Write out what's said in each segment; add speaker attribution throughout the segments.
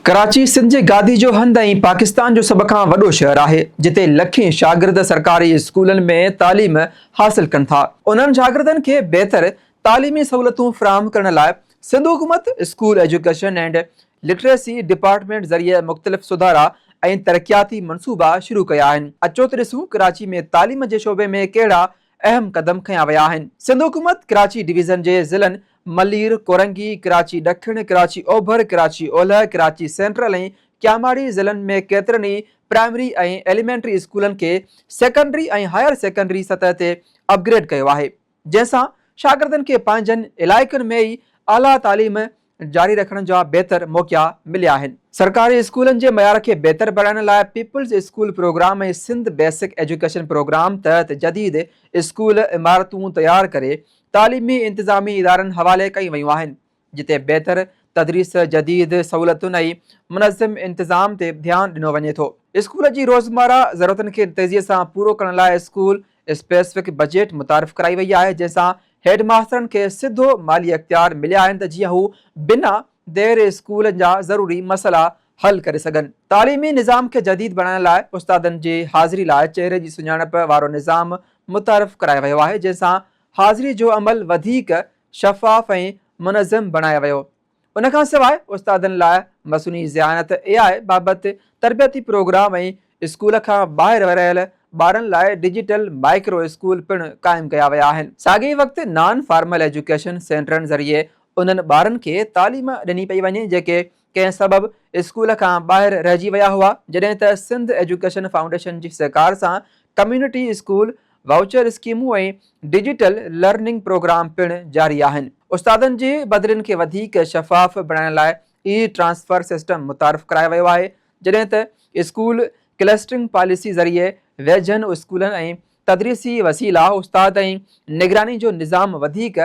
Speaker 1: ڪراچي سنڌ جي گادي جو هنڌ ۽ پاڪستان جو سڀ کان وڏو شهر آهي، جتي لکين شاگرد سرڪاري اسڪولن ۾ تعليم حاصل ڪن ٿا. انهن شاگردن کي بهتر تعليمي سهولتون فراهم ڪرڻ لاء سنڌ حڪومت school education and literacy department ذريعي مختلف سڌارا ۽ ترقياتي منصوبا شروع ڪيا آهن. اچو ته ڏسون ڪراچي ۾ تعليم جي شعبي ۾ ڪهڙا اهم قدم کنيا ويا آهن، سنڌ حڪومت ڪراچي ڊويزن جي ضلعن ملير، ڪورنگي، ڪراچي ڏکڻ، ڪراچي اوڀر، ڪراچي اولهه، ڪراچي سينٽرل ۽ ڪياماڙي ضلعن ۾ ڪيترن ئي پرائمري ۽ ايليمينٽري اسڪولن کي سيڪنڊري ۽ هائر سيڪنڊري سطح تي اپ گريڊ ڪيو آهي جنهن سان شاگردن کي پنهنجن علائقن ۾ ئي اعليٰ تعليم جاري رکڻ جا بهتر موقعا مليا آهن. سرڪاري اسڪولن جي معيار کي بهتر بڻائڻ لاء peoples school programme ۽ Sindh basic education programme تحت جديد اسڪول عمارتون تيار ڪري تعليمي انتظامي ادارن حوالي ڪيون ويون آهن جتي بهتر تدريس جديد سهولتن ۽ منظم انتظام تي ڌيان ڏنو وڃي ٿو. اسڪول جي روزمره ضرورتن کي تيزي سان پورو ڪرڻ لاء اسڪول اسپيسفڪ بجيٽ متعارف ڪرائي وئي آهي جنهن سان هيڊ ماسترن کي سڌو مالي اختيار مليا آهن ته جيئن هو بنا دير اسڪولن جا ضروري مسئلا حل ڪري سگهن. تعليمي نظام کي جديد بڻائڻ لاء استادن جي حاضري لاء چهري جي سڃاڻپ وارو نظام متعارف ڪرايو ويو آهي جنهن سان حاضري جو عمل وڌيڪ شفاف ۽ منظم بڻايو ويو ان کان سواء استادن لاء مصنوعي ذهانت، اي آء، بابت تربيتي پروگرام ۽ اسڪول کان ٻاهر رهيل ٻارن لاء ڊجيٽل مائڪرو اسڪول پڻ قائم ڪيا ويا آهن. ساڳئي وقت نان فارمل ايجوڪيشن سينٽرن ذريعي انهن ٻارن کي تعليم ڏني پئي وڃي جيڪي ڪنهن سبب اسڪول کان ٻاهر رهجي ويا هئا جڏهن ته سنڌ ايجوڪيشن فائونڊيشن جي سهڪار سان ڪميونٽي اسڪول وائوچر اسڪيمون ۽ ڊجيٽل لرننگ پروگرام پڻ جاري آهن، استادن جي بدلين کي وڌيڪ شفاف بڻائڻ لاء اي ٽرانسفر سسٽم متعارف ڪرايو ويو آهي، جڏهن ته اسڪول ڪلسٽرنگ پاليسي ذريعي ويجهن اسڪولن ۽ تدريسي وسيلا، استاد ۽ نگراني جو نظام وڌيڪ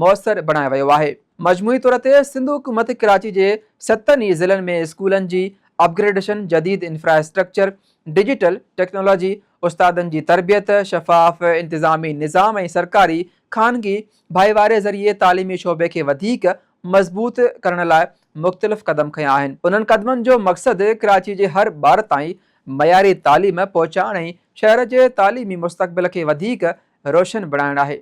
Speaker 1: موثر بڻايو ويو آهي. مجموعي طور تي سنڌ حڪومت ڪراچي جي ستن ئي ضلعن ۾ اسڪولن جي اپگريڊيشن، جديد انفراسٽرڪچر، ڊجيٽل ٽيڪنالاجي، استادن جي تربيت، شفاف انتظامي نظام ۽ سرڪاري خانگي ڀائيواري ذريعي تعليمي شعبي کي وڌيڪ مضبوط ڪرڻ لاء مختلف قدم کنيا آهن. انهن قدمن جو مقصد ڪراچي جي هر ٻار تائين معياري تعليم پهچائڻ ۽ شهر جي تعليمي مستقبل کي وڌيڪ روشن بڻائڻ آهي.